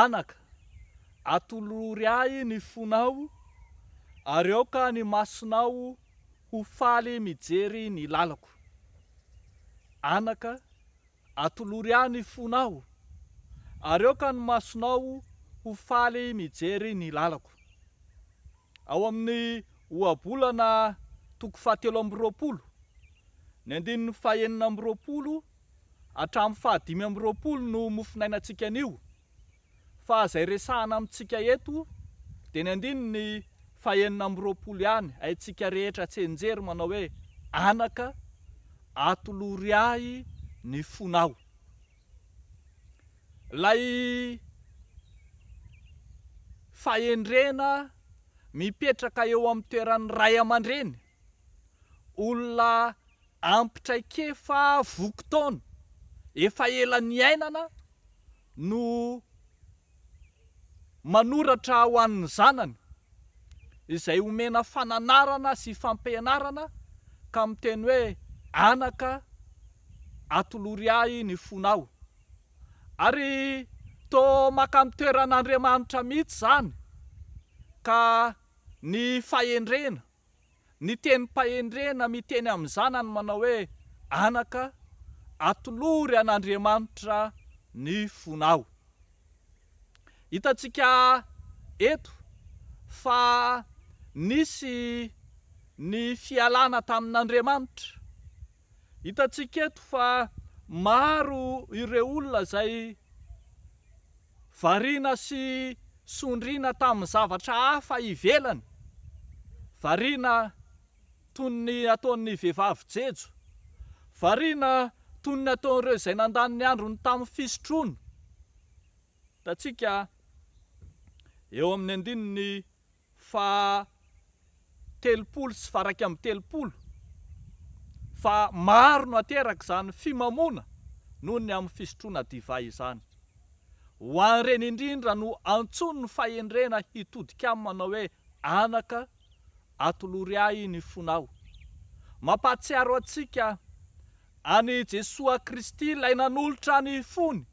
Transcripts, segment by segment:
Anaka, atolory ahy ny fonao, ary aoka ny masonao ho faly mijery ny lalako. Anaka, atolory ahy ny fonao, ary aoka ny masonao ho faly mijery ny lalako. Ao amin'ny Ohabolana toko fahatelo amby roapolo, ny andininy fahenina amby roapolo Hatramin'ny faha dimy amby roapolo no mofonainantsika an'io, fa izay resahana amintsika eto dia ny andininy faha enina amby roapolo ihany, haintsika rehetra tsianjery manao hoe, Anaka, atolory ahy ny fonao. Ilay fahendrena mipetraka eo amin'ny toeran'ny ray aman-dreny, olona Ampy traikefa voky taona efa ela niainana no manoratra ho an'ny zanany, izay omena fananarana sy fampianarana ka miteny hoe anaka atolory ahy ny fonao. Ary toa makany toeran'Andriamanitra mihitsy izany ka ny fahendrena ny tenim-pahendrena miteny amin'ny zanany manao hoe, Anaka, atolory an'Andriamanitra ny fonao. Hitantsika eto fa nisy ny fialana tamin'Andriamanitra. Hitantsika eto fa maro ireo olona izay Variana sy sondriana tamin'ny zavatra hafa ivelany, variana toy ny ataon'ny vehivavy jejo, variana toy ny ataon'ireo izay nandany ny androny tamin'ny fisotroana, hitantsika eo amin'ny andininy faha telopolo sy varaika amby telopolo fa maro no ateraka izany fimamoana noho ny amin'ny fisotroana divay izany. Ho an'ireny indrindra no antsoin'ny fahendrena hitodika aminy manao hoe anaka atolory ahy ny fonao. Mampahatsiaro antsika an'i Jesoa Kristy ilay nanolotra ny fony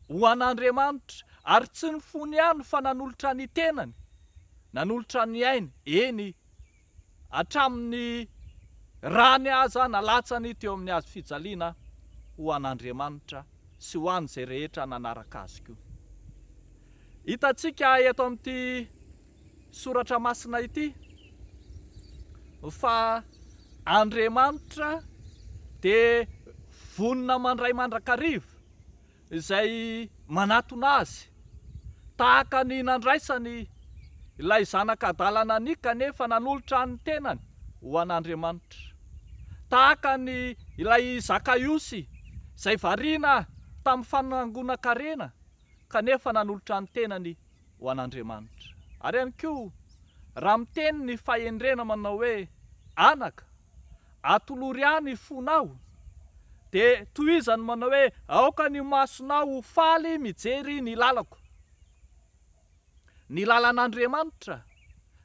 ho an'Andriamanitra, ary tsy ny fony ihany fa nanolotra ny tenany, nanolotra ny ainy, eny, hatramin'ny rany aza nalatsany teo amin'ny hazo fijaliana, ho an'Andriamanitra sy ho an'izay rehetra nanaraka azy koa. Hitantsika eto amin'ity soratra masina ity fa Andriamanitra dia vonona mandray mandrakariva. izay manatona azy, tahaka ny nandraisany ilay zanak'adala naniky kanefa nanolotra ny tenany ho an'Andriamanitra, tahaka ny ilay Zakaiosy izay variana tamin'ny fanangonan-karena kanefa nanolotra ny tenany ho an'Andriamanitra. Ary ihany koa, raha miteny ny fahendrena manao hoe, Anaka, atolory ahy ny fonao, dia tohizany manao hoe, Aoka ny masonao ho faly mijery ny lalako. Ny lalan'Andriamanitra,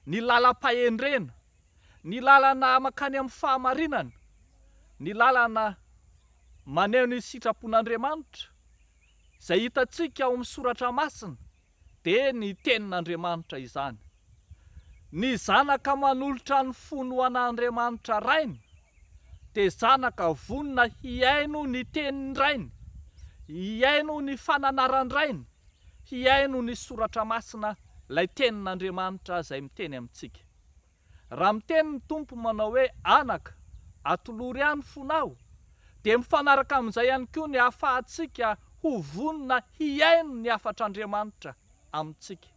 ny lalam-pahendrena, ny lalana mankany amin'ny fahamarinana, ny lalana maneho ny sitrapon'Andriamanitra, izay hitantsika ao amin'ny Soratra Masina dia ny Tenin'Andriamanitra izany. Ny zanaka manolotra ny fony ho an'Andriamanitra Rainy dia zanaka vonona hihaino ny Tenin-dRainy, hihaino ny fananaran-dRainy, hihaino ny Soratra Masina, ilay Tenin'Andriamanitra izay miteny amintsika. Raha miteny ny Tompo manao hoe, Anaka, atolory any fony aho, dia mifanaraka amin'izay ihany koa ny ahafahantsika ho vonona hihaino ny hafatr'Andriamanitra amintsika,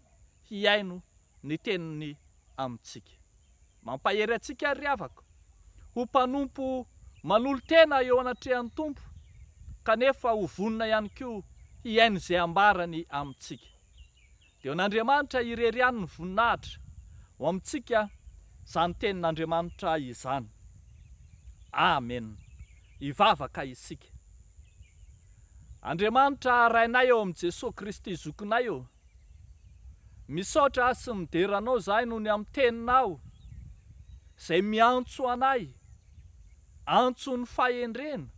hihaino ny teniny amintsika. Mampahery antsika àry ry havako, ho mpanompo manolo-tena eo anatrehan'ny Tompo, kanefa ho vonona ihany koa hihaino izay ambarany amintsika. Dia ho an'Andriamanitra irery ihany ny voninahitra ho amintsika izany tenin'Andriamanitra izany. Amen. Hivavaka isika. Andriamanitra Rainay ao amin'i Jesoa Kristy Zokinay ô, misaotra sy midera Anao izahay noho ny amin'ny Teninao izay miantso anay, antson'ny fahendrena,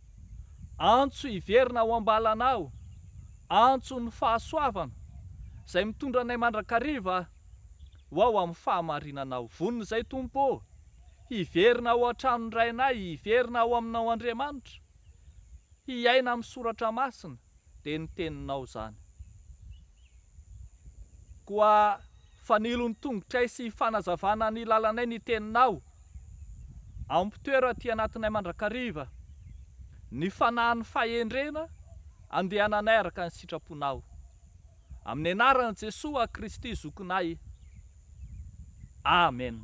antso hiverina ao am-balanao, antson'ny fahasoavana, izay mitondra anay mandrakariva ho ao amin'ny fahamarinanao. Vonona izay Tompo ô, hiverina ao an-tranon-dRainay, hiverina ao aminao Andriamanitra, hiaina amin'ny soratra masina. dia ny teninao zany. Koa fanilo ny tongotray sy fanazavana ny lalanay ny teninao. Ampitoero aty anatinay mandrakariva ny fanahin'ny fahendrena andehananay araka ny sitraponao. Amin'ny anaran'i Jesoa Kristy Zokinay. Amen.